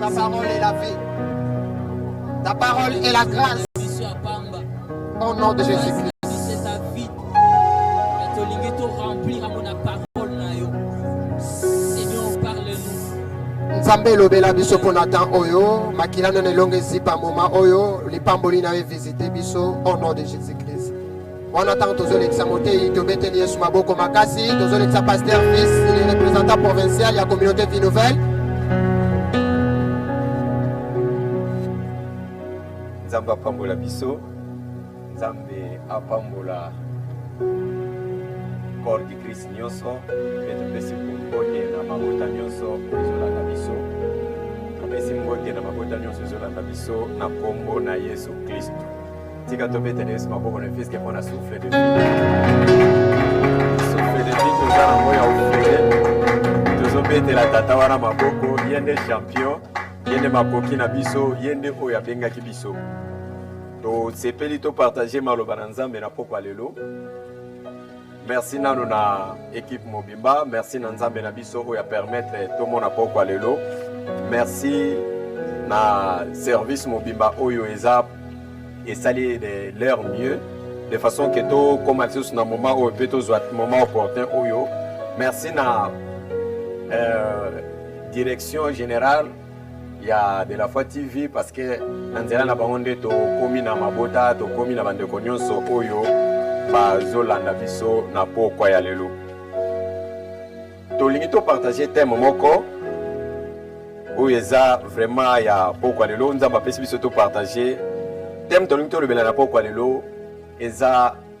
Ta parole est la vie. Ta parole est la grâce. Au nom de Jésus-Christ. nzambe elobela biso mpo na temps oyo makila nano elongo ezipa moma oyo lipamboli na yo evisite biso au nom de jésus christ wana ntango tozolekisa moteyi tobeteli yesu maboko makasi tozolekisa paster fils le représentant provincial ya communauté vie nouvelle nzambe apambola biso nzambe apambola corps du christ nyonso mpe topesi mbote na mabota nyonso ezolanda biso topesi mbote na mabota nyonso ezolanda biso na nkombo na yesu kristo Tika tobetela Yesu maboko na fiske mpo na souffle de vie. Souffle de vie toza nango ya ofele. Tozobetela tata wana maboko, ye nde champion, ye nde makoki na biso, ye nde oyo abengaki biso. Tosepeli topartage maloba na Nzambe na pokwa lelo. merci nano na équipe mobimba merci na nzambe na biso oyo apermettre tomona pokwa lelo merci na service mobimba oyo eza esali de leur mieux de façon ke tokóma lisusu na moment oyo mpe tozwa moment opportun oyo merci na euh, direction générale ya de la foi tv parce que na nzela na bango nde tokomi na mabota tokomi na bandeko nyonso oyo bazolanda biso na pokwa ya lelo tolingi topartage teme moko oyo eza vraiment ya pokwa lelo nzambe apesi biso topartage teme tolingi tolobela na pokwa lelo eza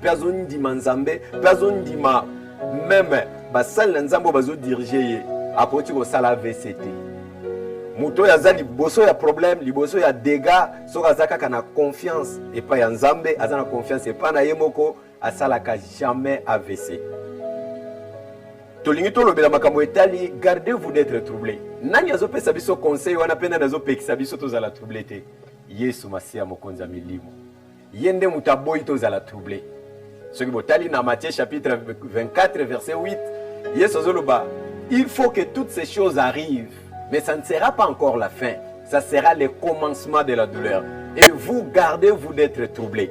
mpe azondima nzambe mpe azondima meme basali na nzambe oyo bazodirige ye akoki kosala avc te moto oyo aza liboso ya problème liboso ya dega soki aza kaka na confiance epai ya nzambe aza na confiance epai na ye moko asalaka jamais avc tolingi tolobela makambo etali gardez vous d'être troublé nani azopesa biso conseil wana mpe nani azopekisa biso tozala troublé te yesu masiya mokonzi ya milimo Ye nde moto aboyi tozala trouble. Soki botali na Matthieu chapitre 24 verset 8, Yesu azoloba il faut que toutes ces choses arrivent, mais ça ne sera pas encore la fin, ça sera le commencement de la douleur. Et vous gardez-vous d'être troublés.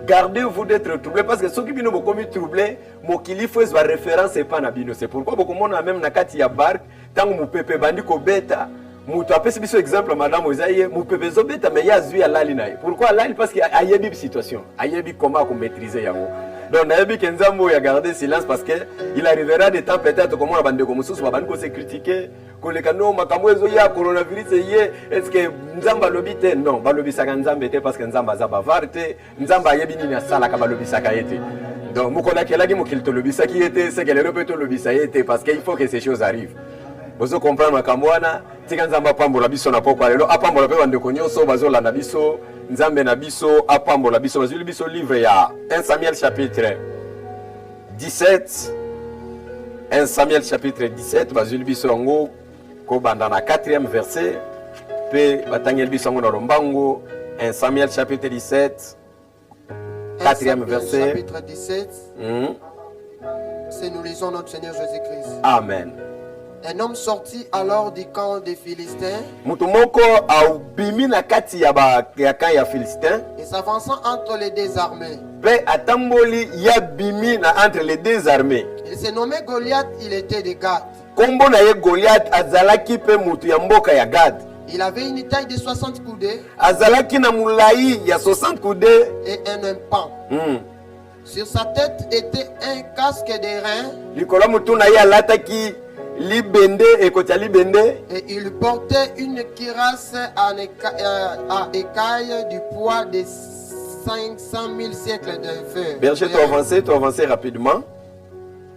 Gardez-vous d'être troublé parce que ceux qui bino bokomi troublé mokili faut ezwa référence epa na bino c'est pourquoi bokomona même na kati ya barque ntango mopepe ebandi kobeta moto apesi biso exemple malamu eza ye mopepe ezobeta me ye azwi alali na ye pourkui alali parce que ayebi situation ayebi comment akomaîtrise yango donc nayebi ke nzambe oyo agarde silence parce que il arrivera de temps peut-être komona bandeko mosusu babandi kose kritike koleka no makambo ezoya coronavirus eye estce nzambe alobi te non balobisaka nzambe te parce que nzambe aza bavare te Nzambe ayebi nini asalaka balobisaka ye te. Donc mokolo akelaki mokili tolobisaki ye te, seke lelo mpe tolobisa ye te parce que il faut que ces choses arrivent. Bozo comprendre makambo wana, tika Nzambe apambola biso na pokwa lelo, apambola mpe bandeko nyonso bazolanda biso. Nzambe na biso apambola biso, bazwili biso livre ya 1 Samuel chapitre 17 1 Samuel chapitre 17 bazwili biso yango kobanda na 4e verset mpe batangeli biso yango na lombango 1 samuel chapitre 17 4e verset chapitre 17 mm. c'est nous lisons notre seigneur jésus-christ amen un homme sorti alors du camp des philistins moto moko aobimi na kati ya, ba, ya camp ya philistin et s'avançant entre les deux armées mpe atamboli ya bimi na entre les deux armées il se nommait goliath il était de gath Kombo na ye Goliath, azalaki pe mutu ya mboka ya Gad. Il avait une taille de 60 coudées. Azalaki na mulayi ya 60 coudées. Et un impan. Mm. Sur sa tête était un casque de rein. Likolo mutu na ye alataki libende ekoti ya libende. Et il portait une cuirasse à, éca euh, à écaille du poids de 500 000 siècles de feu. Berger, tu avances, tu avances rapidement.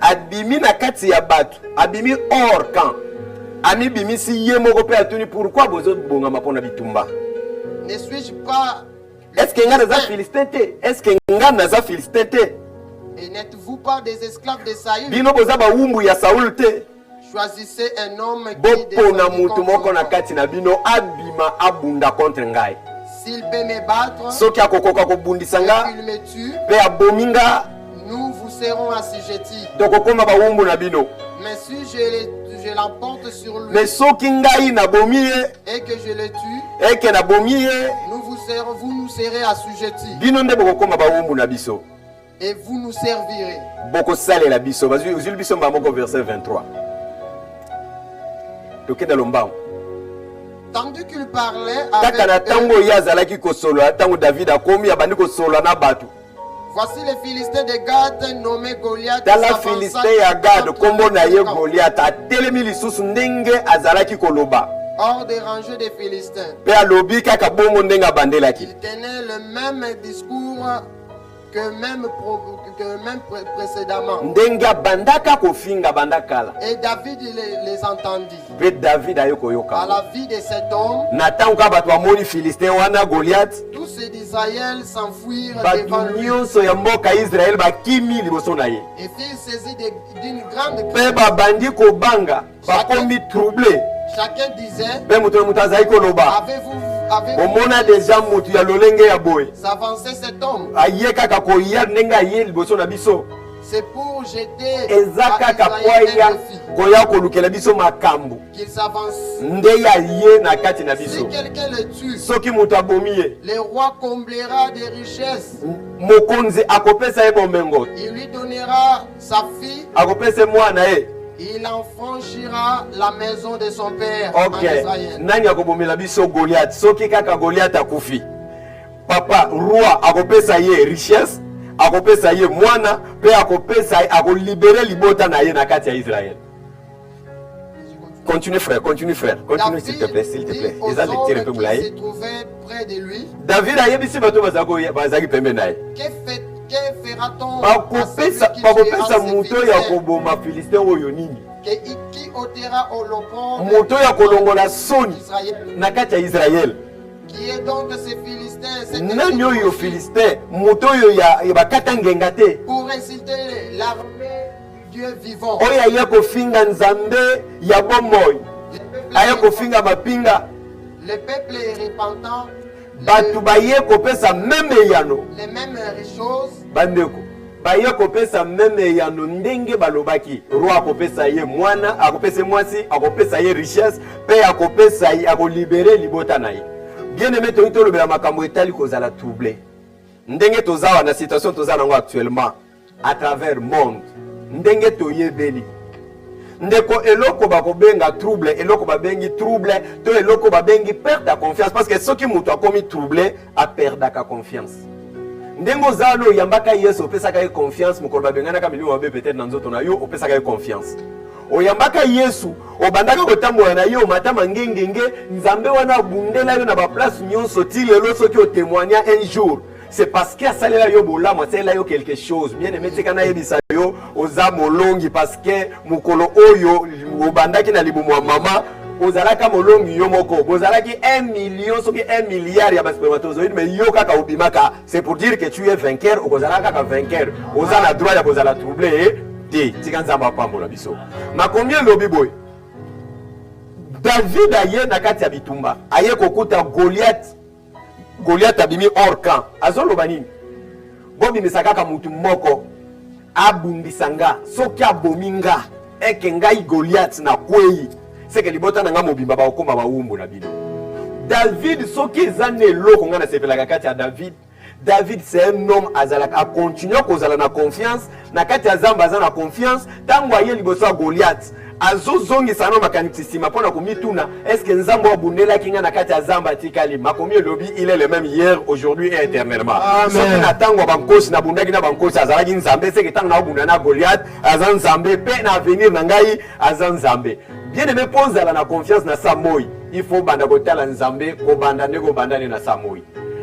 abimi na kati ya bato abimi or camp amibimisi ye moko mpe atuni pourkui bozobongama mpo na bitumba ne suis-je pas eske ngai naza philistin te eske ngai naza philistin te Et n'êtes-vous pas des esclaves de Saül? bino boza bawumbu ya saul te bopona moto moko na kati na bino abima abunda contre ngai soki akokoka kobundisa nga mpe abomi nga tokokoma bawumbu na bino me soki ngai nabomi ye eke nabomi ye bino nde bokokoma bawumbu na biso Et vous nous servirez. Boko salela biso, bazui uzili biso mbala moko verset 23. Tokenda lombango. Tandis qu'il parlait avec Kaka na tango ye azalaki kosolola, tango David akomi abandi kosolola na bato. Voici les Philistins de Gath nommé Goliath. Tala Philistin ya Gad, kombo na ye Goliath, atelemi lisusu ndenge azalaki koloba. Hors des rangées des Philistins. Pe alobi kaka bongo ndenge abandelaki. Il tenait le même discours que même, que même pré précédemment. Ndenge abandaka kofinga banda kala. Et David les, les entendit. Mpe David aye koyoka. À la vie de cet homme. Na ntango kaka bato bamoni Philistin wana Goliath. Tous ceux d'Israël s'enfuirent devant lui. Bato nyonso ya mboka Israël bakimi liboso na ye. Et fut saisi d'une grande crainte. Mpe babandi kobanga. bakomi trouble mpe moto na moto azali koloba omona deja motu ya lolenge ya boye aye kaka koya ndenge aye liboso na biso eza kaka koya koya kolukela biso makambo nde ya ye na kati na biso soki moto abomi ye mokonzi akopesa ye bomengo sa fille, akopesa ye mwana ye il enfranchira la maison de son père en ok Israël. nani akobomela biso goliath soki kaka goliath akufi papa roi akopesa ye richesse akopesa ye mwana mpe akopesa akolibere libota na ye na kati ya israele Continue frère, continue frère, continue s'il te plaît, s'il te plaît. Ils ont lecture un peu moulaye. David a yebisi bato bazaki pembe na ye. bakopesa moto ya koboma filistin oyo nini moto ya kolongola soni na kati ya israele nani oyo filistin moto oyo ya bakata ngenga te oyo aye kofinga nzambe ya bomoi aye kofinga mapinga bato baye kopesa meme eyano bandeko baye kopesa meme eyano ndenge balobaki roi akopesa ye mwana akopesa mwasi akopesa ye richesse mpe akopesa ye akolibere libota na ye bien aime toyei tolobela makambo etali kozala trouble ndenge toza wana situation toza nango actuellement à travers monde ndenge toyebeli ndeko eloko bakobenga trouble eloko babengi trouble to eloko babengi perte ya confiance parce que soki moto akomi trouble aperdaka confiance ndenge oza wana oyambaka yesu opesaka ye confiance mokolo babenganaka milimo mabe peut-être na nzoto na yo opesaka ye confiance oyambaka yesu obandaka kotambola na ye omatama ngengenge nzambe wana abundela yo na baplace nyonso ti lelo soki otemoigna un jour c'est parce que asalela yo bolamu asalela yo quelque chose bien aimé tika nayebisa yo oza molongi parce que mokolo oyo obandaki na libumu ya mama ozalaka molongi yo moko bozalaki 1 million soki 1 milliard ya baspermatozoïde mais yo kaka obimaka c'est pour dire que tu es vainqueur okozalaka kaka vainqueur oza na droit ya kozala trouble eh? te tika nzambe apambola biso makomi elobi boye david aye na kati ya bitumba aye kokuta goliath Goliath abimi hors camp, azoloba nini? Bobimisa kaka mutu moko abundisa nga, soki abomi nga eke ngai Goliath na kwei seke libota na nga mobimba bakokoma bawumbu na bino. David soki eza na eloko nga nasepelaka kati ya David David c'est un homme azalaka akontinue kozala na confiance na kati ya zamba aza na confiance ntango aye liboso ya goliate azozongisa na makanisi nsima mpo na komituna eske nzambe oyo abundelaki ngai na kati ya zamba atikali makomi elobi il est le même hier aujourd'hui et éternellement soki na ntango ya bankosi nabundaki na bankosi azalaki nzambe seke ntango naobunda na goliate aza nzambe mpe na avenir na ngai aza nzambe bien aime mpo ozala na confiance na sa moi il faut obanda kotala nzambe kobanda ndenge obandani na sa moi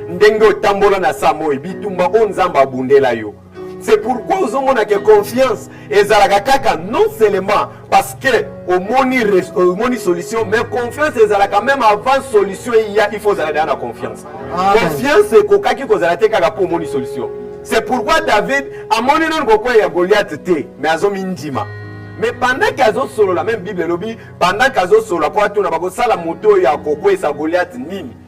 ndenge otambola na sa moi bitumba oyo nzambe abundela yo c'est pourquoi ozomona ke confiance ezalaka kaka non seulement parce que omoni omoni solution mais confiance ezalaka même avant solution eya il faut ozala deya na confiance ah, confiance ekokaki kozala te kaka mpo omoni solution c'est pourquoi david amoni nanu kokwea ya goliath te mais azomindima mais pendant ke azosolola meme bible elobi pendant ke azosolola mpo atuna bakosala moto oyo akokweyisa goliath nini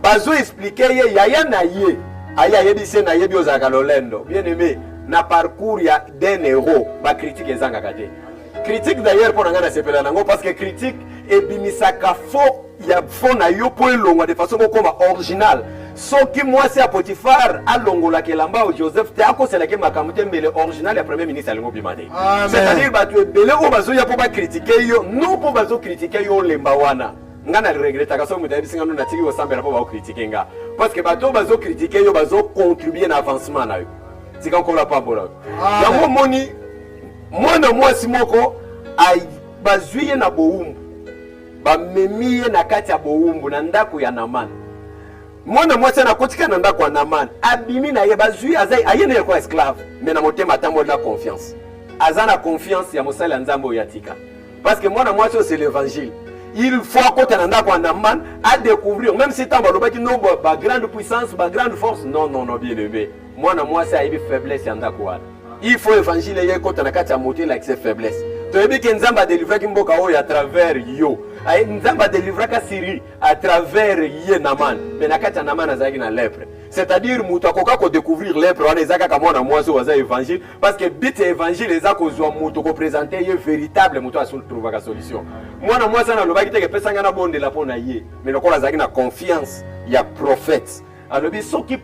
bazo expliquer ye yaya na ye aye ayebisi ye nayebi ozalaka lolendo bien aime na parcours ya d'un hero ba critique ezangaka te critique d'ailleurs mpo na ngai nasepela nango parce que critique ebimisaka faux ya faux na yo mpo elongwa de façon kokoma original soki mwasi ya potifar alongolaka elamba ya joseph te akoselaki makambo te mbele original ya premier ministre alingi obima te c'est-à-dire bato ebele oyo bazoya mpo bakritike yo no mpo bazokritike yo olemba wana nga na regretaka soki moto ayebisi nga no natiki kosambela mpo bakokritike nga parce que bato oyo bazokritike yo bazocontribue na avancement na yo tika nkolo apambola yo ah. yango omoni mwana mwasi moko bazwi ye na bowumbu bamemi ye na kati ya bowumbu na ndako ya namani mwana mwasi ana akotika na ndako ya namani abimi na ye bazwi aye na ye kwa esclave me na motema atamboli na confiance aza na confiance ya mosali ya nzambe oyo atika parce que mwana mwasi oyo c'est l'évangile il faut akota na ndako ya naman adecouvrir même si ntango balobaki no bagrande puissance bagrande force non non non bien aimé mwana mwasi ayebi faiblesse ya ndako wana il faut évangile eye ekota na kati ya moto elakise faiblesse toyebi ke nzambe adelivraki mboka oyo à travers yo nzambe adelivraka syrie à travers ye naman mais na kati ya naman azalaki na lepre c'est-à-dire moto akoka kodécouvrir lepre wana eza kaka mwana mwasi oyo aza évangile parce que but ya évangile eza kozwa moto kopresente ye véritable moto atrouvaka solution mwana mwasi ana alobaki teke epesa ngai nabondela mpo na ye mais lokola azalaki na confiance ya prophète alobi soki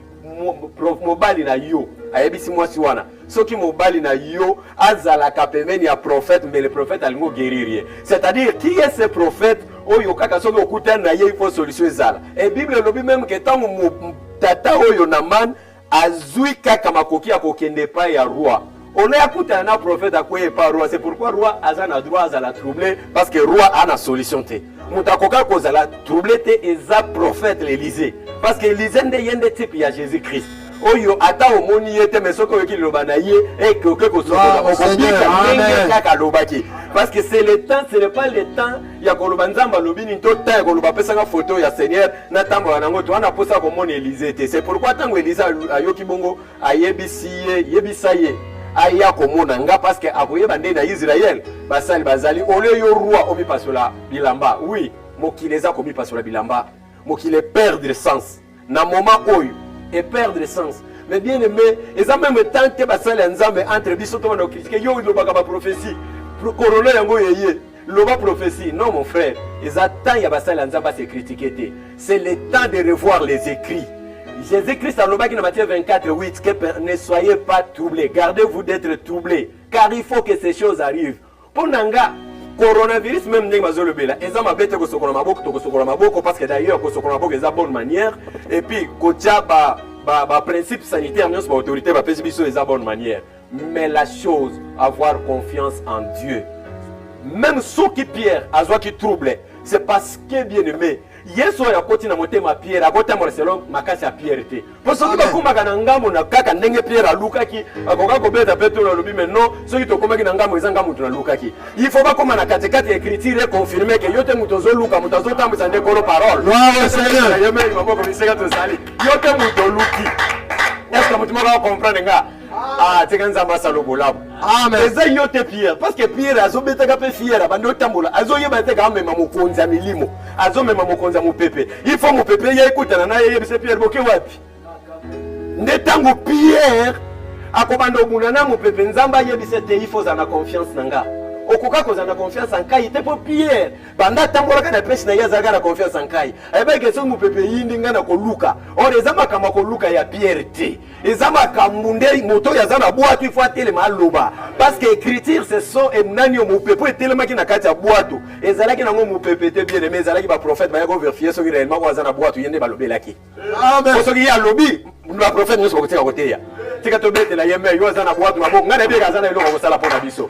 mobali na yo ayebisi mwasi wana soki mobali na yo azalaka pembeni ya prophète mbele prophète alingi ogeriri ye c'est-à-dire qui est ce prophète oyo kaka soki okutani na ye ifo solution ezala e bible elobi meme ke ntango tata oyo namane azui kaka makoki ya kokende epai ya roi ole akutana na prophète akwei epai roi c'est pourquoi roi aza na droit azala trouble parce que roi a na solution te moto akoka kozala trouble te eza prophète l'élysée parce que élysée nde ye nde type ya jésus christ oyo ata omoni ye te me soki oyoki liloba na ye ekoki kosokola okobika ndenge kaka alobaki parce que c'est le temps ce n'est pas le temps ya koloba nzambe alobi nini to temps ya koloba apesaka foto ya seigneur natambola nango to wana aposa komona elize te c'est pourquoi ntango elize ayoki bongo ayebisi ye yebisa ye aya komona nga parceke akoyeba nde na israele basali bazali olio yo roi omipasola bilamba wi mokili eza komipasola bilamba mokili eperdre sens na moment oyo e perdre sens mais bien aimé eza meme temps te basali ya nzambe entre biso to bana okritike yo olobaka baprofesi corona yango yeye loba prophetie non mon frère eza temps ya basali ya nzambe ase kritike te c'est le temps de revoir les écrits jésus christ alobaki na matthieu 24 8 que ne soyez pas troublé gardez vous d'être troublé car il faut que ces choses arrivent Mpo na nga coronavirus meme ndenge bazolobela eza mabe te kosokola maboko tokosokola maboko parce que d'ailleurs kosokola maboko eza bonne manière et puis kotya ba ba, ba principe sanitaire nyonso ba autorité bapesi biso eza bonne manière mais la chose avoir confiance en Dieu même soki Pierre azwaki trouble c'est parce que bien aimé yesu oyo akoti na motema ya pierre akotambola selo makasi ya pierre te mpo soki tokomaka na ngambo na kaka ndenge pierre alukaki akoka kobeta petro alobi me no soki tokomaki na ngambo eza nga moto nalukaki il faut bakóma na katikati ya écriture econfirme ke yo te moto ozoluka moto azotambwisa nde kolo parole maboko miseka tozali yo te moto oluki eske moto moko akomprendre nga Ah, tika nzambe asala bolamu ah, eza yo te pierre parce que pierre azobetaka mpe fiere abandi otambola azoyeba te kaamema mokonzi ya milimo azomema mokonzi ya mopepe il faut mopepe ye ekutana na ye yebisa pierre boke wapi nde ntango pierre akobanda obunda na mopepe nzambe ayebisa te il faut ozala na confiance na nga okoka kozala na confiance en kai te mpo pierre banda atambolaka na pesi na ye azalaka na confiance en kai ayebaki ke soki mopepe eyindi ngai na koluka or eza makambo ya koluka ya pierre te eza makambo nde moto oyo aza na bwato ifo atelema aloba parce que écriture ce sont nani yo mopepe oyo etelemaki na kati ya bwato ezalaki nango mopepe te bien aimé ezalaki baprofete baya koverifie soki réellement oyo aza na bwato ye nde balobelaki po soki ye alobi baprofete nyonso bakotika koteya tika tobetela ye mai yo aza na bwato maboko ngai nayebeka aza na eloko kosala mpo na biso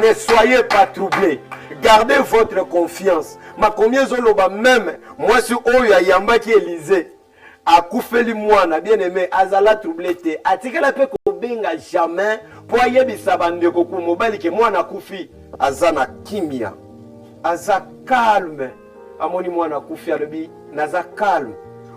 ne soyez pas troublé gardez votre confiance makomi ezoloba meme mwasi oyo ayambaki elize akufeli mwana bien aime azala trouble te atikala mpe kobenga jamais mpo ayebisa bandeko ku mobali ke mwana akufi aza na kimia aza calme amoni mwana akufi alobi naza calme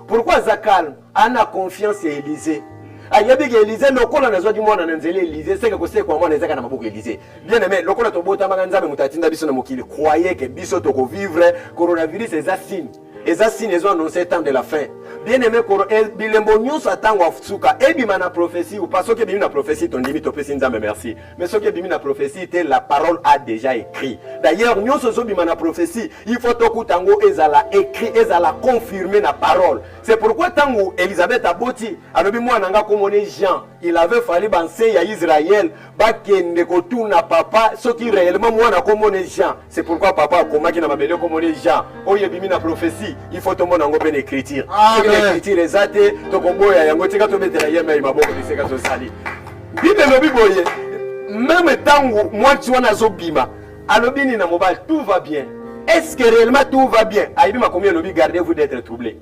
pourkui aza calme ana confiance ya elise ayebi ke elize lokola nazwaki mwana na nzela elize seke kosekwa mwana ezaka na maboko elize bien aime lokola tobotamaka nzambe moto atinda biso na mokili croye ke biso tokovivre coronavirus eza signe eza sini ezo annonce temps de la fin bien aimé koro eh, bilembo nyonso ya ntango asuka ebima na prophetie ou pas soki ebimi na prophetie tondimi topesi nzambe merci mais soki ebimi na prophetie te la parole a déjà écrit d'ailleurs nyonso ezobima na prophetie il faut tokuta yango ezala écrit ezala confirme na parole c'est pourquoi ntango elisabeth aboti alobi mwana nga komone jean il avait fallu banse ya israel bakende kotuna papa soki réellement mwana komone jean C'est pourquoi papa akomaki na mabele okomoni Jean oyo ebimi na prophetie il faut tomona yango mpe na écriture soki na écriture eza te tokoboya yango tika tobetela ye mai maboko bisika tozali bible elobi boye meme ntango mwasi wana azobima alobi nini na mobali tout va bien est ce que réellement tout va bien ayebi makomi elobi gardez vous d'être troublé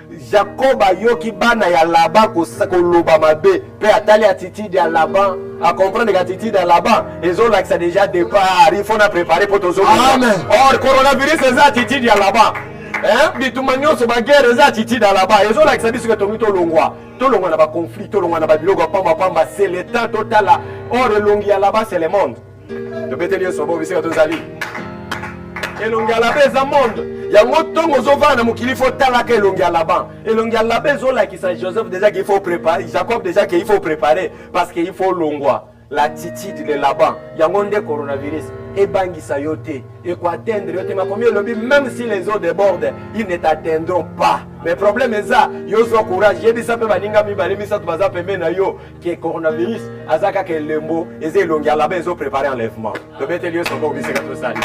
Jakob ayoki bana ya Laban koloba mabe mpe atali attitude ya Laban akomprendre attitude ya Laban ezolakisa deja départ il faut na préparer mpo tozokoma or coronavirus eza attitude ya Laban eh, bituma nyonso baguerre eza attitude ya Laban ezolakisa biso ke tongi tolongwa tolongwa na baconflit tolongwa na babiloko ya pambapamba c'est le temps totala or elongi ya Laban c'est le monde tobeteli yesu maboko bisika tozali elongi ya laba eza monde yango ntongo ozovanda na mokili fo otalaka elongi ya laban elongi ya laba ezolakisa joseph déjà qu'il faut préparer jacob déjà qu'il faut préparer parce qu'il faut longwa l'attitude de laban yango nde coronavirus ebangisa yo te ekoatteindre yo te makomi elobi même si les eaux debordent ils ne t'atteindront pas mais problème eza yo zwa courage yebisa mpe baninga mibale misato baza pembe na yo que coronavirus aza kaka elembo eza elongi ya laba ezo prépare enlèvement tobeteli yo soko bisika tosali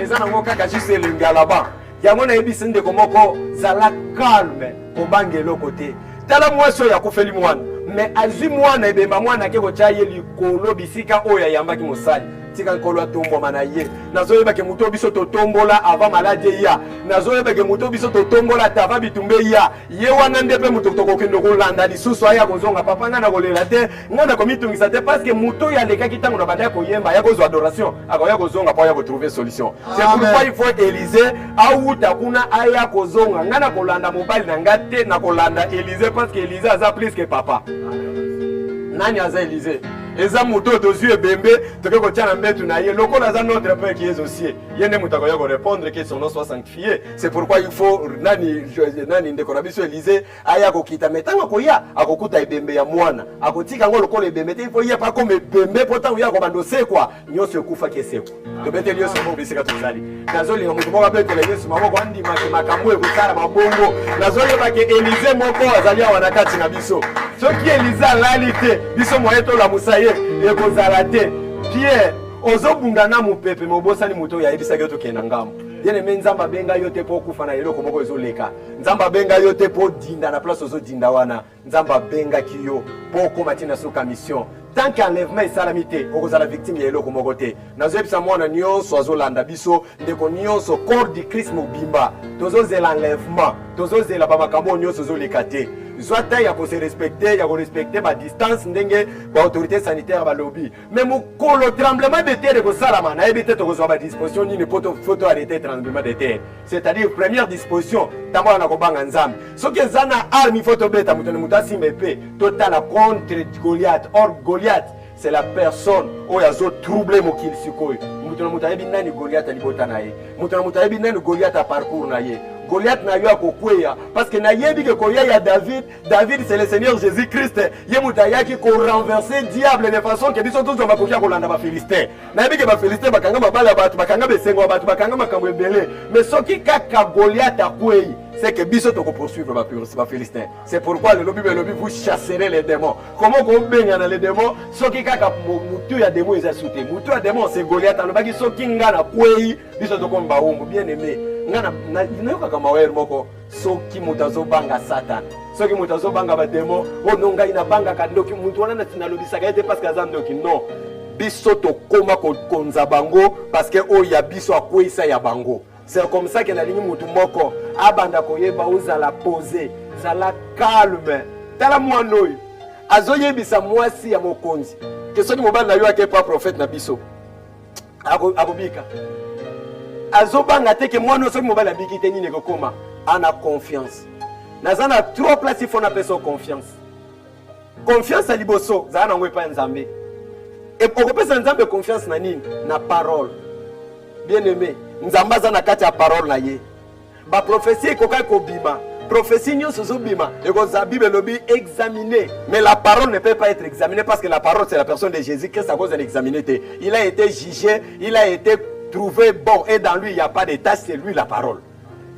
eza nango kaka juste elongi ya laba yango nayebisi ndeko moko zala calme kobanga eloko te tala mwasi oyo akufeli mwana me azwi mwana ebemba mwana ake kotya ye likolo bisika oyo ayambaki mosali tika nkolo atombwama na ye nazoyeba ke moto biso totombola ava maladi eya nazoyeba ke moto biso totombola tava bitumba eya ye wana nde mpe moto tokokende kolanda lisusu aya kozonga papa ngai nakolela te ngai nakomitungisa te parce que moto oyo alekaki ntango na banda ya koyemba ya kozwa adoration akoya kozonga mpo aya kotrouve solution c'est pourquoi il faut élise awuta kuna aya kozonga ngai nakolanda mobali na ngai te nakolanda élise parce que élise aza plus que papa nani aza élise eza moto oyo tozwi ebembe tokoki kotya na mbetu na ye lokola aza notre père qui est osie ye nde moto akoya korépondre ke son nom soit sanctifie c'est pourquoi il faut nani nani ndeko na biso Elise aya kokita mais ntango akoya akokuta ebembe ya mwana akotika yango lokola ebembe te mpo ye mpe akoma ebembe mpo ntango ye akobanda osekwa nyonso ekufaki esekwa tobeteli yesu maboko bisika tozali nazolinga moto moko abetela yesu maboko andimaki makambo ekosala mabongo nazoyebaki Elise moko azali awa na kati na biso soki Elise alali te biso moye tolamusa ye ekozala te Pierre ozobunda na mopepe mobosani moto oyo ayebisaki yo tokenda ngambo Bien-aimé, Nzambe abenga yo te po kufa na eloko moko ezo leka. Nzambe abenga yo te po dinda na place ozo dinda wana. Nzambe abengaki yo po okoma ti na suka mission. Tant que enlèvement esalami te, okozala victime ya eloko moko te. Nazoyebisa mwana nyonso azolanda biso, ndeko nyonso, corps du Christ mobimba, tozozela enlèvement, tozozela bamakambo oyo nyonso ezoleka te. Zwa temps ya ko se respecter, ya ko respecter ba distance ndenge ba autorités sanitaires balobi. mais mokolo tremblement de terre ekosalama nayebi te tokozwa badisposition nini mpo foto arrete tremblement de terre c'est-à-dire première disposition ntango wana kobanga nzambe soki eza na arme ifo tobeta moto na moto asimba epe totala contre goliath or goliath c'est la personne oyo azotrouble mokili sikoyo moto na moto ayebi nani goliath alibota na ye moto na moto ayebi nani goliath aparcours na ye goliath na yo akokweya parce que nayebi ke koya ya david David c'est le Seigneur Jésus-Christ ye moto ayaki ko renverser diable de façon que biso tozwa makoki ya kolanda bafilistin nayebi ke bafilistin bakanga mabala ya bato bakanga besengo ya bato bakanga makambo ebele mais soki kaka goliath akwei c'est que biso toko poursuivre ba philistin c'est pourquoi le lobby lobby vous chasserez les démons comment ko benga na les démons soki kaka mutu ya démon eza sauté mutu ya démon c'est Goliath alobaki soki nga na kwei biso toko mbaumbu bien aimé nga na na yokaka mawer moko soki moto azobanga satana soki moto azobanga bademo oyo no ngai nabangaka ndoki moto wana nalobisaka ye te parceke aza ndoki non biso tokoma kokonza bango parceke oyo ya biso akweisa ya bango c'est comme ça ke nalingi motu moko abanda koyeba ozala pose zala calme tala mwana oyo azoyebisa mwasi ya mokonzi ke soki mobali na yo akepa profete na biso akobika azobanga te ke mwana soki mobali abiki te nini ekokoma ana confiance naza na trop place ifo napesa confiance confiance ya liboso zala nango epai ya nzambe e, okopesa nzambe confiance na nini na parole bien aime nzambe aza na kati ya parole na ye Ba prophetie ekokaki kobima. Prophetie nyonso ezobima ekozala Bible elobi examiner. Mais la parole ne peut pas être examinée parce que la parole c'est la personne de Jésus Christ à cause de l'examiner. Il a été jugé, il a été trouvé bon et dans lui il n'y a pas de tâche, c'est lui la parole.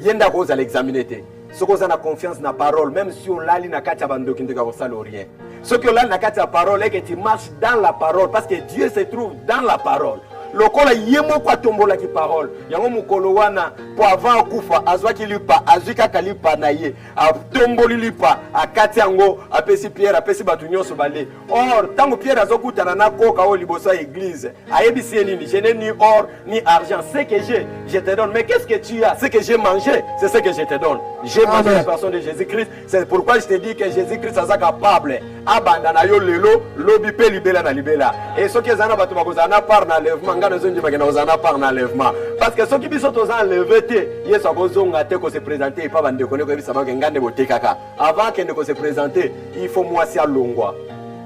Yenda à cause de l'examiner. Ce qu'on a confiance na parole même si on l'a lu na kacha bandoki ndeka kosala rien. soki olandi na kati ya parole eke tu marche dans la parole parce que dieu se trouve dans la parole lokola ye moko atombolaki parole yango mokolo wana mpo avant akufa azwaki lipa azwi kaka lipa na ye atomboli lipa akati yango apesi pierre apesi bato nyonso bale or ntango pierre azokutana na koka oyo liboso ya eglise ayebisi ye nini je n'ai ni or ni argent ce que j'ai je te donne mais qu'est ce que tu as ce que j'ai mangé c'est ce que je te donne j'ai mangé la personne de jésus christ C'est pourquoi je te dis que Jésus-Christ aza capable abanda na yo lelo lobi mpe libela na libela e soki eza na bato bakozala na part na enlèvement ngai nazondimake na kozala na part na enlèvement parce que soki biso toza enlève te yesu akozonga te kose présente epa bandeko nde koyebisa bango ke ngai nde botekaka avant akende kose présente il faut mwasi alongwa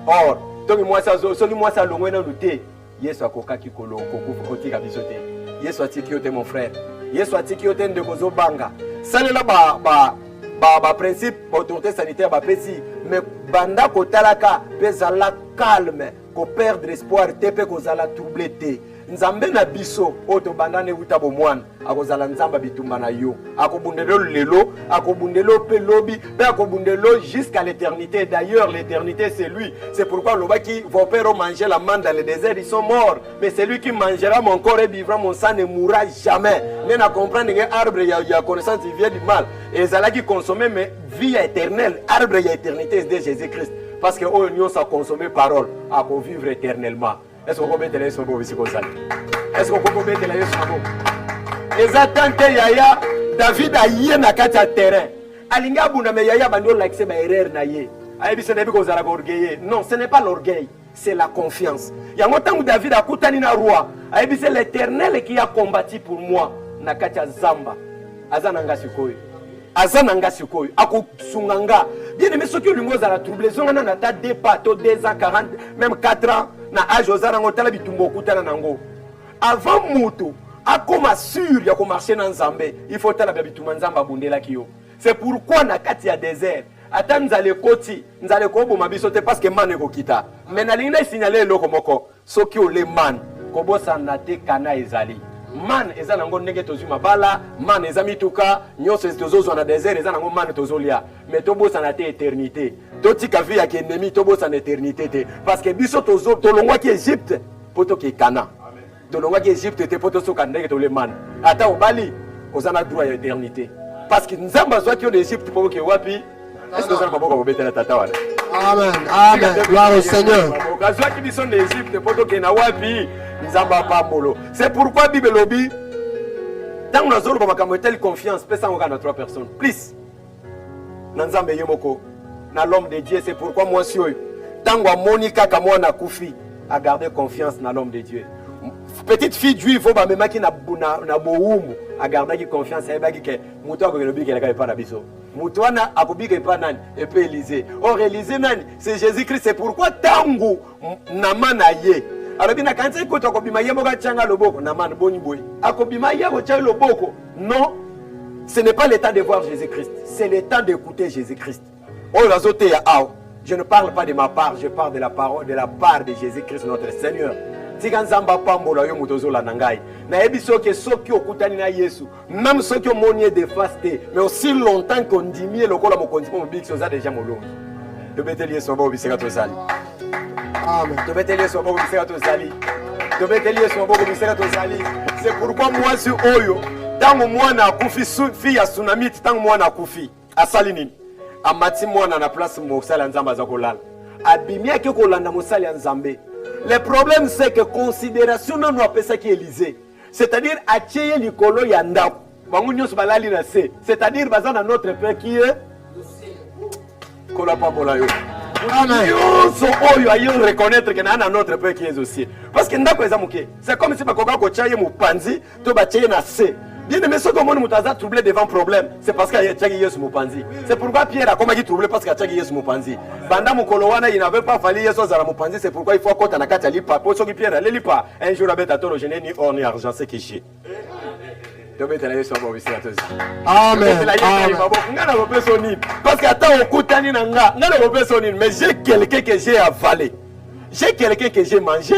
or ntongi mwasi soki mwasi alongwe nanu te Yesu akokaki kolo kokufa kotika biso te. Yesu atiki yo te mon frère. Yesu atiki yo te ndeko ozobanga. Salela ba ba ba ba principe ba autorité sanitaire bapesi mais banda kotalaka mpe zala calme ko perdre espoir te mpe kozala trouble te. Nzambe na biso oyo tobanda na ewuta bomwana akozala nzambe ya bitumba na yo akobundela yo lelo akobundela yo mpe lobi mpe akobundela yo jusqu'à l'éternité d'ailleurs l'éternité c'est lui c'est pourquoi alobaki vos pères ont mangé la manne dans le désert ils sont morts mais celui qui mangera mon corps et vivra mon sang ne mourra jamais nde na comprendre ndenge arbre ya, ya connaissance du bien du mal ezalaki consommé mais vie ya éternelle arbre ya éternité de jésus christ parce que oyo nyonso aconsomme parole akovivre éternellement Est-ce que okobetela Yesu maboko bisika ozali? Est-ce que okobetela Yesu maboko? Eza tant que yaya David aye na kati ya terrain alingi abunda, me yaya bandi olakise ba erreur na ye, ayebisa nayebi kozalaka orgueilleux. Non, ce n'est pas l'orgueil c'est la confiance. Yango tangu David akutani na roi, ayebi c'est l'Éternel qui a combattu pour moi na kati ya zamba. Aza na nga sikoyo. aza na nga sikoyo akosunga nga bien aime soki olingi ozala trouble ezonga nano ata de pas to 2 ans 40 meme 4 ans na age oza nango tala bitumba okutana nango avant moto akoma sur ya komarche na nzambe il faut otala bya bitumba nzambe abundelaki yo c'est pourquoi na kati ya désert ata nzala ekoti nzala ekoboma biso te parce que mano ekokita me nalingi na esignale eloko moko Soki ole man kobosana te kana ezali man eza na ngo ndenge tozwi mabala man eza mituka nyonso tozozwa na desert eza na ngo man tozolia mais tobosana te eternité totika vie ya kiennemi tobosana eternité te parce que biso tolongwaki egypte mpo toke kana tolongwaki egypte te mpo tosoka ndenge tole man ata obali oza na droit ya eternité parce que nzambe azwaki yo na egypte mpo oke wapi Est-ce que ça va pas bobeta na tata wana? Amen. Amen. Gloire au Seigneur. Okazwaki biso na Egypte mpo tokenda wapi? Nzambe apambolo. C'est pourquoi Bible lobi ntango nazoloba makambo etali confiance pesa yango kaka na trois personnes please na nzambe ye moko na l'homme de dieu c'est pourquoi mwasi oyo ntango amoni kaka mwana akufi agarde confiance na l'homme de dieu petite fille juive oyo bamemaki na, na, na bowumbu agardaki confiance ayebaki ke moto akokende obikelaka epai na biso moto wana akobika epa nani epa elize or elize nani c'est jésus christ c'est pourquoi ntango nama na ye alobi nakanisaki kutu akobima ye moko atyanga loboko namani boni boye akobima ye akotya loboko non ce n'est pas le temps de voir jésus christ c'est le temps d'écouter jésus christ oyo azoteya awa je ne parle pas de ma part je parle de la parole de la part de jésus christ notre seigneur tika nzambe apambola yo moto ozolanda ngai nayebi soki soki okutani na yesu meme soki omoni ye deface te mais aussi longtemps que ondimi ye lokola mokonzi mpo mobikisi oza deja molongi tobeteli yesu maboko bisika tozali tobeteli yesu maboko bisika tozali tobeteli yesu maboko bisika tozali c'est pourquoi mwasi oyo ntango mwana akufi fi ya tsunamite ntango mwana akufi asali nini amati mwana na place mosali ya nzambe aza kolala abimi ake kolanda mosali ya nzambe le problème c'est que considération nano apesaki elize c'est-à-dire atie ye likolo ya ndako bango nyonso balali na se c'est-à-dire baza na notre père qui est kolapambola yo nyonso oyo aye reconnaître ke naa na notre père qui est au ciel parce que ndako eza moke c'est comme si bakoka kotya ye mopanzi to batye ye na se bien aimé soki omoni moto aza trouble devant problème c'est parce que atyaki yesu mopanzi c'est pourquoi pierre akomaki trouble parce que atyaki yesu mopanzi banda mokolo wana il n'avait pas fali yesu azala mopanzi c'est pourquoi il faut akɔta na kati ya lipa mpo soki pierre aleli pa Un jour abeta tolo je n'ai ni or ni argent ce que j'ai. tobetela yesu abobisela tozi ametela ye maboko ngai nakopesa nini parce que ata okutani na nga ngai nakopesa nini mais j'ai quelqu'un que j'ai avalé j'ai quelqu'un que j'ai mangé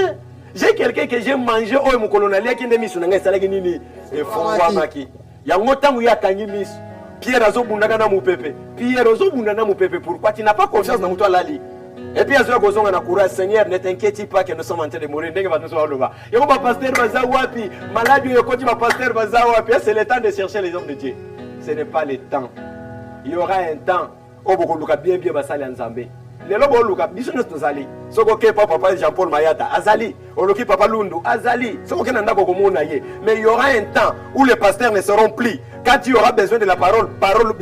j'ai quelqu'un que j'ai mangé oyo mokolo naliaki nde miso na ngai esalaki nini efungwamaki yango ntango ye akangi miso pierre azobundaka na mopepe pierre ozobunda na mopepe pourquoi tu n'as pas confiance na moto alali epuis azoya kozonga na courage seigneur ne t'inquiète pas que nous sommes en train de mourir ndenge bato nyonso baloba yango bapaster baza wapi maladi oyo ekoti bapaster baza wapi c'est le temps de chercher les hommes de dieu ce n'est pas le temps il y aura un temps oyo bokoluka bien bien basali ya nzambe lelo boluka biso nyonso tozali soki okepa papa jean paul mayata azali oloki papa lundu azali soki okenda ndako okomona ye mais y aura un temps où les pasteurs ne seront plus quand tu auras besoin de la parole parole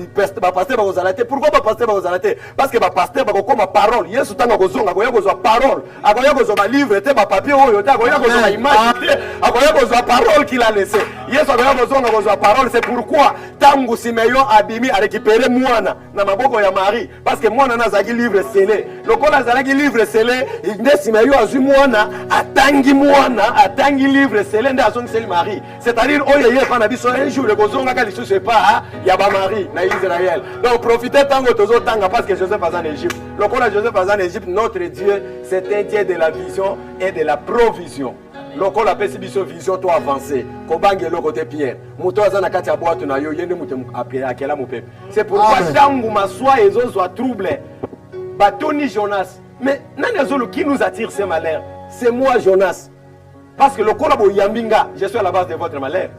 bapasteur bakozala te pourquoi bapasteur bakozala te parce que bapasteur bakokoma parole yesu ntango akozonga akoya kozwa parole akoya kozwa balivre te bapapier oyo te akoya kozwa baimage te akoya kozwa parole qu'il a laisse yesu akoya kozonga kozwa parole c'est pourquoi ntango simeon abimi arekipere mwana na maboko ya marie parceke mwana na azalaki livre sele lokola azalaki livre sele nde simeon azwi mwana atangi mwana atangi livre sele nde azongiseli marie c'est-à-dire oyo eye epa na biso un jour ekozongaka lisusu epa ya bamarie na israel donc profite ntango tozotanga parceke joseph aza na egypte lokola joseph aza na egypte notre dieu c'est un dieu de la vision et de la provision lokola apesi biso vision to avance kobanga eloko te pierre moto aza na kati ya bwato na yo ye nde moto akela mopepe c'est pourquoi ntango maswa ezozwa trouble batoni jonas mais nani azolo qui nous attire ce malheur c'est moi jonas parce que lokola boyambi nga je suis à la base de votre malheur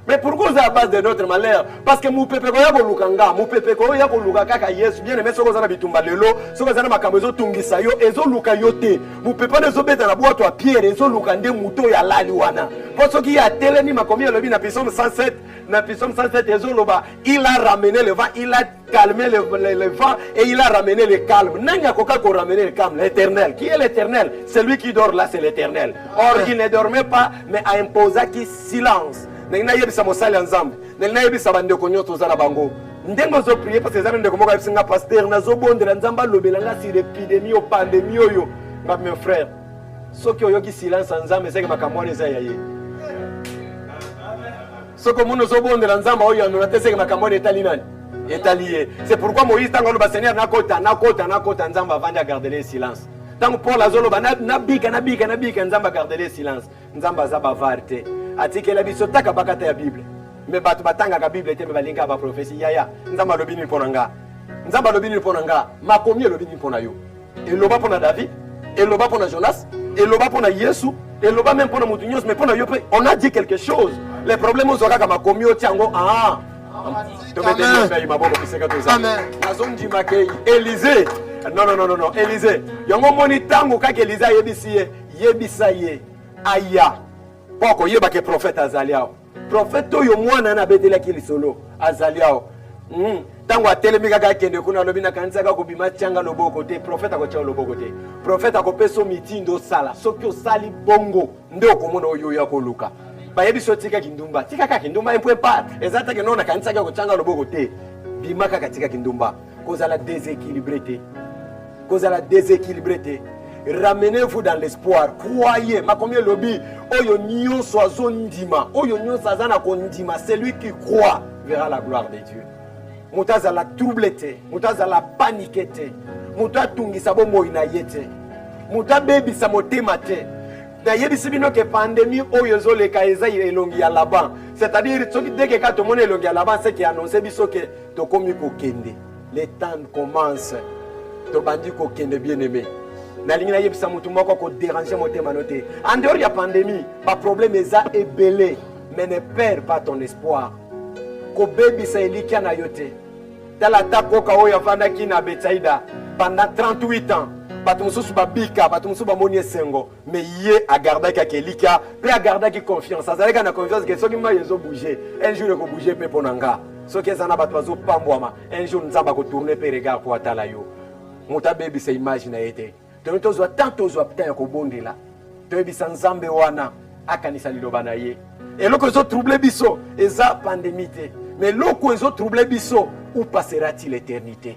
Mais pourquoi oza à base de notre malheur Parce que mupepe koya koluka nga, mupepe koya koluka kaka Yesu. Bien aimé soki oza na bitumba lelo, soki oza na makambo ezotungisa yo, ezoluka yo te. Mupepe wana ezobeta na bwato ya Pierre, ezoluka nde moto oyo alali wana. Mpo soki ye atelemi, makomi elobi na psaume 107, na psaume 107 ezoloba, il a ramené le vent, il a calmer le, le, le vent et il a ramené le calme. Nani akoka ko ramener le calme L'éternel. Qui est l'éternel Celui qui dort là, c'est l'éternel. Or, il ne dormait pas, mais a imposé qui silence. ndenge nayebisa mosali ya nzambe ndenge nayebisa bandeko nyonso oza na bango ndenge ozo prie parce eza na ndeko moko ayebisi nga paster nazobondela nzambe alobela nga sur epidemie o pandemie oyo nga mon frère soki oyoki silence ya nzambe ezaki makambo wana eza ya ye soki omoni ozobondela nzambe oyanola te seke makambo wana etali nani etali ye c'est pourquoi moïse ntango aloba seigneur nakota nakota nakota nzambe avandi agardele ye silence ntango paul azoloba nabika nabika nabika nzambe agardele ye silence nzambe aza bavare te atikela biso taka bakata ya bible me bato batangaka bible te me balingaka baprofesi yaya nzambe alobi nini mpo na nga nzambe alobi nini mpo na nga makomi elobi nini mpo na yo eloba mpo na david eloba mpo na jonas eloba mpo na yesu eloba meme mpo na moto nyonso mais mpo na yo mpe on a dit quelque chose le problème ozwa kaka makomi oti yango aa tobetei maboko biseka toza nazondima ke elize nononono elize yango omoni ntango kaka elize ayebisi ye yebisa ye aya mpo akoyeba ke profete azali awa profete oyo mwana na abetelaki lisolo azali awa hmm. ntango atelemi kaka akende kuna alobi nakanisaka kobima tyanga loboko te profete akotya loboko te profete akopesa mitindo osala soki osali bongo nde okomona oyo oyo akoluka bayebi so tika kindumba tika kaka kindumba impwe part eza take no nakanisaka kotyanga loboko te bima kaka tika kindumba kozala déséquilibré te kozala déséquilibré te ramenez-vous dans l'espoir croyez makomi elobi oyo nyonso azondima oyo nyonso aza na kondima celui qui croit verra la gloire de dieu moto azala trouble te moto azala panike te moto atungisa bomoi na ye te moto abebisa motema te nayebisi bino ke pandemi oyo ezoleka eza elongi ya laban c'est-à-dire soki deke ka tomoni elongi ya laban seke annonce biso ke tokomi kokende le temps commence tobandi kokende bien aimé nalingi nayebisa motu moko koderange motema no te en dehors ya pandémie baproblème eza ebele mais ne perd pas ton espoir kobebisa elikya na yo te tala ata koka oyo avandaki na betsaida pendant 38 ans bato mosusu babika bato mosusu bamoni esengo mais ye agardaki kaka elikya mpe agardaki confiance azalaki kaka na confiance ke soki mai ezobouge un jour ekobouge mpe mpo na nga soki eza na bato bazopambwama un jour nzambe akotourne mpe regard mpo atala yo moto abebisa image na ye te toyei tozwa temps tozwa temps ya kobondela toyebisa nzambe wana akanisa liloba na ye eloko ezotrouble biso eza pandemi te mais eloko ezotrouble biso où passera-t-il l'éternité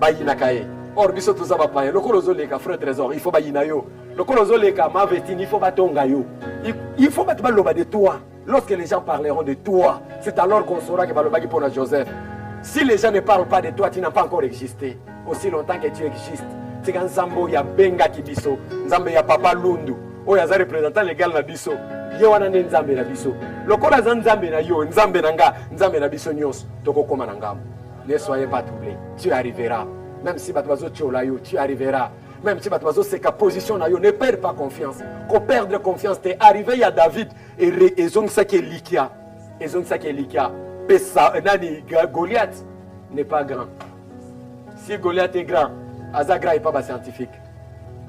bayinaka ye or biso toza bapaya lokola ozoleka frais trésor il faut bayina yo lokola ozoleka mavetine il faut batonga yo il faut bato baloba de toi lorsque les gens parleront de toi c'est alors qu'on saura que balobaki mpo na joseph si les gens ne parlent pas de toi tu n'as pas encore existé aussi longtemps que tu existes tika nzambe oyo abengaki biso nzambe ya papa lundu oyo aza représentant légal na biso ye wana nde nzambe na biso lokola aza nzambe na yo nzambe na nga nzambe na biso nyonso tokokoma na ngambo Ne soyez pas troublé, tu arriveras. Même si bato bazotiola yo, tu arriveras. Même si bato bazoseka position na yo, ne perd pas confiance. Ko perdre confiance te. Arrivé ya David ezongisaki elikya, ezongisaki elikya. Mpe euh, nani Goliath n'est pas grand. Si Goliath est grand, aza grand epa bascientifique.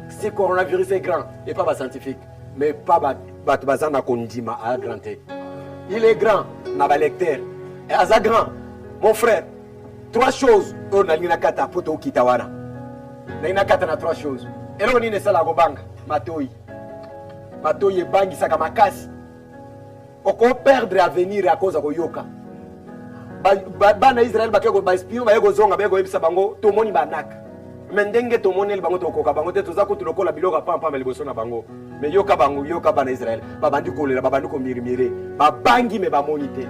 si coronavirus est grand et pas scientifique mais pas bato baza na kondima a grand te il est grand na balecteur aza grand mon frère trois choses oyo nalingi nakata mpo tookita wana nalingi nakata na trois choses eloko nini esalaka kobanga matoi matoi ebangisaka makasi oko perdre avenir ya koza koyoka bana Israël bake ko ba espion baye kozonga baye koyebisa bango tomoni banaka me ndenge tomoneli bango tokoka bango te toza kutu lokola biloko ya pampama liboso na bango me yoka bango yoka bana Israël babandi kolela babandi komirimire babangi me bamoni te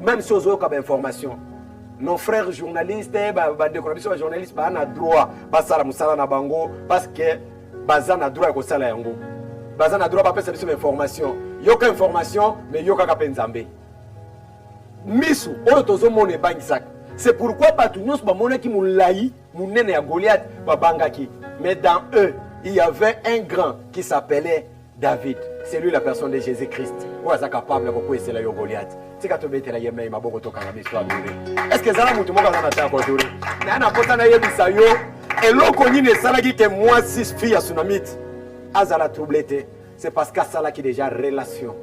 même si ozoyoka bainformation nos frères journalistes bandeko na biso bajournaliste baa na droit basala mosala na bango parce que baza na droit ya kosala yango baza na droit bapesa biso bainformation yoka information me yokaka mpe nzambe misu oyo tozomona ebangisaka c'est pourquoi bato nyonso bamonaki molai monene ya goliath babangaki mais dans eux il y avait un grand qui s'appelait David, c'est lui la personne de Jésus-Christ. Oyo aza capable ya kokwesela yo Goliath. Tika tobetela ye mei maboko tokanga miso ya dure. Est-ce que ezala moto moko aza na taya kwa dure? Naye napota nayebisa yo eloko nini esalaki ke mwasi fille ya Sunamite azala trouble te. C'est parce qu'asalaki déjà relation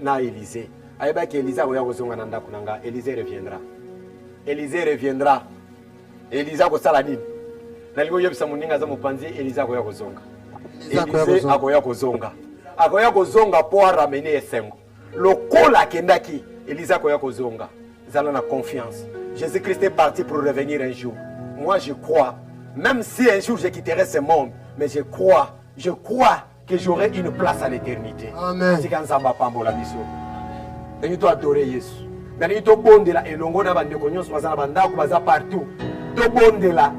na Élysée. Ayebaki Élysée akoya kozonga na ndako na nga. Élysée reviendra. Élysée reviendra. Eliza akosala nini? Nalingi oyebisa moninga aza mopanzi, Eliza akoya kozonga. Elize akoya kozonga, akoya kozonga mpo aramene esengo. Lokola akendaki, Eliza akoya kozonga. Zala na confiance. Jésus-Christ est parti pour revenir un jour. Moi, je crois. Même si un jour je quitterai ce monde, mais je crois, je crois que j'aurai une place à l'éternité Amen. tika nzambe apambola biso ndenge to adore yesu ndenge tobondela elongo na bandeko nyonso baza na bandako baza partout tobondela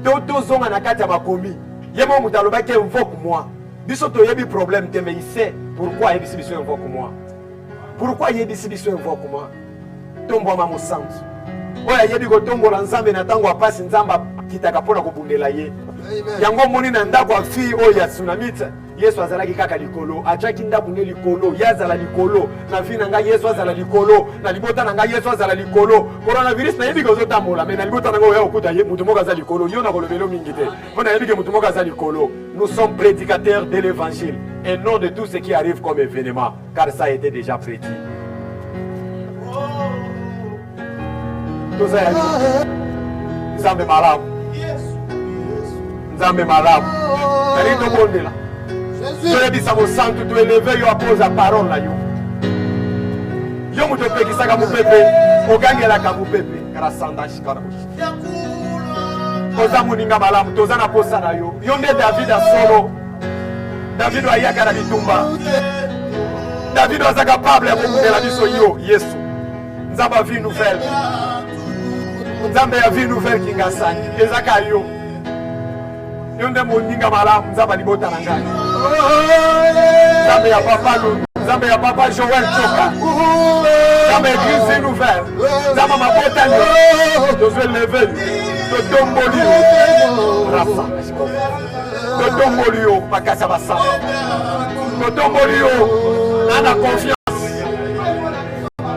to tozonga na kati ya bakomi ye moko moto alobaki invoque moi biso toyebi problème te mais il sait pourquoi ayebisi biso invoque moi Pourquoi ayebisi biso invoquement tombwama mosantu oyo ayebi kotombola nzambe na ntango ya mpasi nzambe akitaka mpo na kobundela ye yango omoni na ndako ya fille oyo ya tsunamite yesu azalaki kaka likolo atiaki ndako nde likolo ye azala likolo na vi na ngai yesu azala likolo na libota na ngai yesu azala likolo coronavirus nayebi ke ozotambola me na libota na ngai oya kokuta ye motu moko aza likolo yo na kolobelo mingi te mpo nayebi ke motu moko aza likolo nous sommes prédicateurs de l'évangile et non de tout ce qui arrive comme événement car ça était dejà predi toza ya nzambe malamu nzambe malamu nali tobondela toyebisa mosantu toeleve yo akoza parole na yo yo moto opekisaka mopepe ogangelaka mopepe grasandage oza moninga malamu toza na posa na yo yo nde david ya solo david ayaka na bitumba david aza kapable ya kobundela biso yo yesu nzambe ya vie nouvelle nzambe ya vie nouvelle kingasani ezaka yo yo nde moninga malamu nzambe libota na ngai nzambe ya papa lulu nzambe ya papa joel coka nzambe eglise nouvelle nzambe mabota nyo tozwe level totomboli yo rafa totomboli yo makasi ya basala totomboli yo ana confiance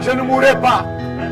je ne mourrai pas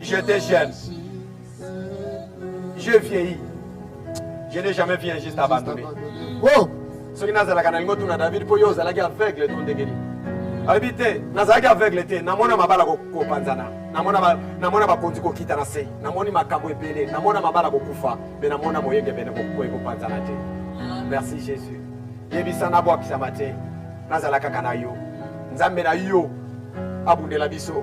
J'étais jeune. Je vieillis. Je n'ai jamais vu un juste abandonné. Oh! soki nazalaka nalingi otuna david mpo yo ozalaki aveugle to ndenge nini ayebi te nazalaki aveugle te namona mabala kopanzana namona bakonzi kokita na se namoni makambo ebele namona mabala kokufa mpe namona moyenge ebele kokoki kopanzana te merci jésus yebisa nabwakisama te nazala kaka na yo nzambe na yo abundela biso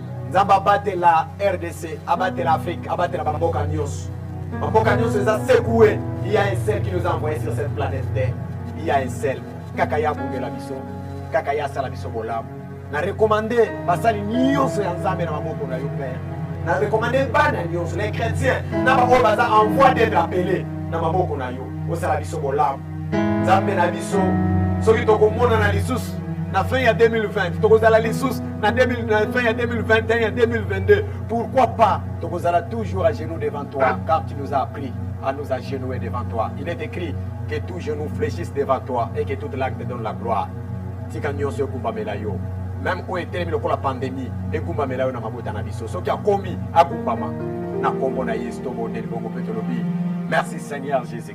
Nzambe abatela RDC, abatela Afrique, abatela ba mboka nyonso. Ba mboka nyonso eza secoue. Il y a un seul qui nous a envoyé sur cette planète Terre. Il y a un seul. Kaka ya bungela biso, kaka ya sala biso bolamu. Na recommander basali nyonso ya Nzambe na maboko na yo Père. Na recommander bana nyonso, les chrétiens, na ba oyo baza en voie d'être appelés na maboko na yo. Osala biso bolamu. Nzambe na biso soki tokomonana lisusu na fin ya 2020 tokozala lisusu na fin ya 2021 ya 2022 pourquoi pas tokozala toujours à genoux devant toi car tu nous as appris à nous agenouer devant toi il est écrit que tout genou fléchisse devant toi et que toute langue te donne la gloire tika nyonso ekumbamela yo meme oyo etelemi lokola pandemie ekumbamela yo na mabota na biso soki akomi akumbama na nkombo na yesu tobondeli bongo mpe tolobi merci seigneur jésus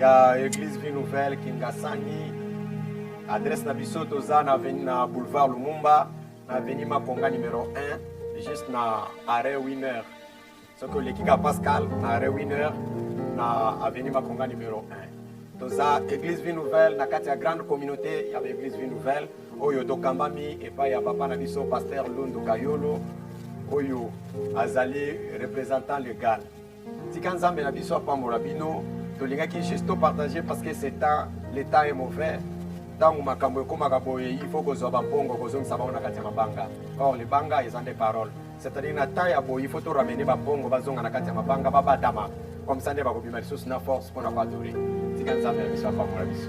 ya église vie nouvelle kingasani adresse na biso toza na, na boulevard lumumba na avenue makonga numero 1 juste na arrêt winner soki oleki ka pascal na arrêt winner na avenue makonga numero 1 toza église vie nouvelle na kati ya grande communauté ya baéglise vie nouvelle oyo tokambami epai ya papa na biso paster lundu kayolo oyo azali représentant legal Tika Nzambe na biso apambola bino. Tolingaki juste to partager parce que c'est temps, le temps est mauvais. Tango makambo ekomaka boye, il faut kozwa ba mbongo kozongisa bango na kati ya mabanga. Or les banga ils ont des paroles. C'est-à-dire na temps ya boye, il faut to ramener ba mbongo bazonga na kati ya mabanga babatama. Comme ça nde bakobima lisusu na force pour na ko adorer. Tika Nzambe na biso apambola biso.